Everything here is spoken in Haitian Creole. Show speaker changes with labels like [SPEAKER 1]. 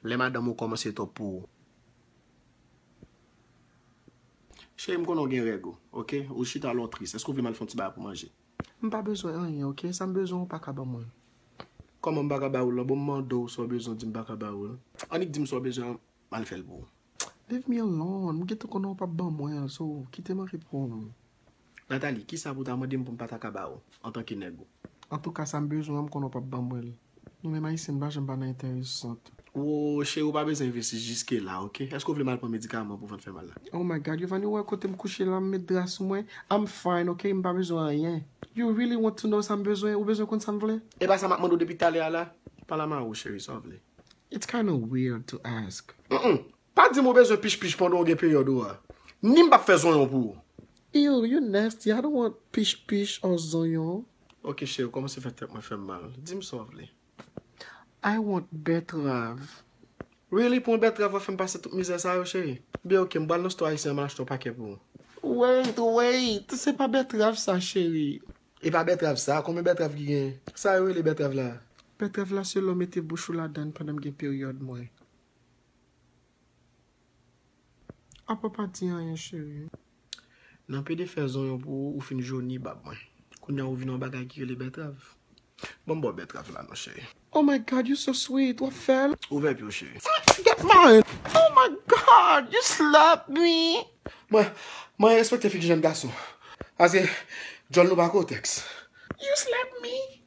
[SPEAKER 1] Lè madanm ou komanse twòp pou ou. Cheri m konnen w gen règ ou ok, ou chita lè w tris, èske w vle m al fè yon ti bagay pou manje? M pa bezwen anyen ok, sa m bezwen ou pa ka ban mwen l. Kòman m pa ka ba ou l lan, bon m mande w sa w bezwen w di m pa ka ba ou l. Annik di m sa w bezwen an, m al fè l pou ou. Leave me alone, m gentan konnen w pap ban mwen l, so kite m anrepom. Nathalie, kisa pou ta mande m pou m pa ta ka ba ou, antanke nèg ou? Antouka sa m bezwen an m konnen w pap ban mwen l. Nou menm Ayisyen n pa janm pa nan entèresant. Wo, cheri w pa bezwen envesti jiske la ok. Èske w vle m al pran medikaman pou vant fè mal la? Oh my God, Yovani ou wè kote m kouche la, m met dra sou mwen. I'm fine ok, m pa bezwen anyen. You really want to know sa m bezwen? Ou bezwen konn sa m vle? Epa sa m ap mande w depi talè a la? Pale a m a ou cheri, sa w vle? It's kinda weird to ask. Humm! Pa dim ou bezwen pich pich pandan ou gen peryòd ou a. Ni m pap fè zonyon pou ou. Eww you nasty I don't want pich pich or zonyon. Ok cheri ou kòmanse fè tèt mwen fè m mal. Di m sa w vle. I want bètrav. Really pou yon bètrav wap fè m pase tout mizè sa yo cheri? Byen ok m pral nan stò ayisyen an m al achte yon pakè pou ou. Wait wait se pa bètrav sa cheri. E pa bètrav sa, konbyen bètrav ki gen? Sa yo rele bètrav la? Bètrav la se lè w mete bouch ou ladan pandan m gen peryòd mwen. A pa pa di anyen cheri. Nan pede fè zonyon pou ou, ou fin joni bab mwen. Kounya ou vin yon bagay ki rele bètrav. Banm baw bètrav la non cheri. Oh my God you so sweet, wap fèl? Ouvè pyew cheri. Tati get mine! Oh my God you slap me! Mwen, mwen respekte fi ki jèn gason. Paske djòl nou pa kotèks. You slap me!